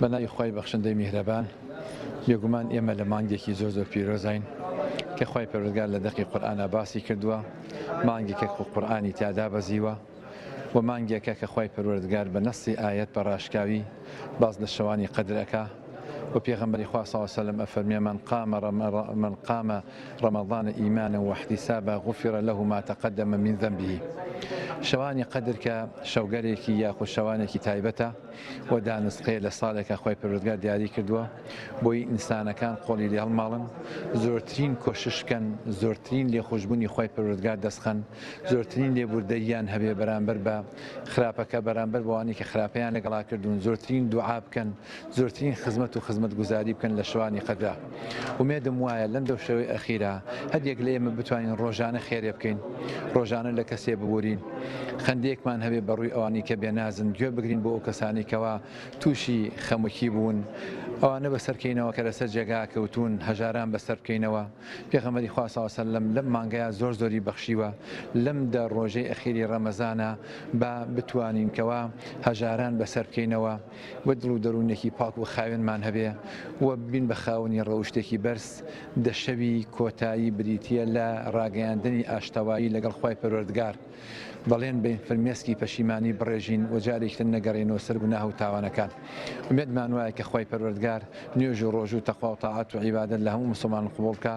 بە ناوی خوای بەخشندەی میهرەبان بێگومان ئێمە لە مانگێکی زۆر زۆر پیرۆزین کە خوای پەروەردگار لە دەقی قورئانا باسی کردووە مانگێکە کە قورئانی تیا دابەزیوە و مانگێکە کە خوای پەروەردگار بە نەسی ئایەت بە ڕاشکاوی باز لە شەوانی قەدر ئەکا و پێغەمبەری خوا صلی الله علیه و سلم ئەفەرمێ من قام من قام رمضان ایمانا واحتسابا غفر له ما تقدم من ذنبه شەوانی قەدر کە شەوگەرێکی یاخود شەوانێکی تایبەتە وە دانسقەیە لە ساڵێکا خوای پەروەردگار دیاری کردووە بۆی ئینسانەکان قۆڵی لێ هەڵماڵن زۆرترین کۆشش بکەن زۆرترین لێخۆشبوونی خوای پەروەردگار دەستخەن زۆرترین لێبوردەییان هەبێ بەرامبەر بە خراپەکە بەرامبەر بەوانەی کە خراپەیان لەگەڵا کردوون زۆرترین دوعا بکەن زۆرترین خزمەت و خزمەتگوزاری بکەن لە شەوانی قەدرا ئومێدم وایە لەم دەو شەوەی ئەخیرە هەریەک لە ئێمە بتوانین ڕۆژانە خێرێ بکەین، ڕۆژانە لە کەسێ ببورین، خەندەیەکمان هەبێ بە ڕووی ئەوانەی کە بێنازن، گوێ بگرین بۆ ئەو کەسانەی کەوا تووشی خەمکی بوون، ئەوانە بە سەر کەینەوە کە لە سەر جێگا کەوتوون، هەژاران بە سەر بکەینەوە. پێغەمبەری خوا سڵاو سەلەم لەم مانگەیا زۆر زۆری بەخشیوە، لەم دە ڕۆژەی ئەخیری ڕەمەزانە با بتوانین کەوا هەژاران بە سەر بکەینەوە، و دڵ و دەروونێکی پاک و خاوێنمان هەبێ و ببین بە خاوەنی ڕەوشتێکی بەرز، دە شەوی کۆتایی بریتییە لە ڕاگەیاندنی ئاشتەوایی لەگەڵ خوای پەروەردگار، بەڵێن بەین فرمێسکی پەشیمانی بڕێژین و جارێکی تر نەگەڕێینەوە سەر گوناه و تاوانەکان، ئومێدمان وایە کە خوای پەروەردگار نوێژ و ڕۆژو تەقوا و تاعەت و عیبادەت لە هەموو موسڵمان قبوڵ کا.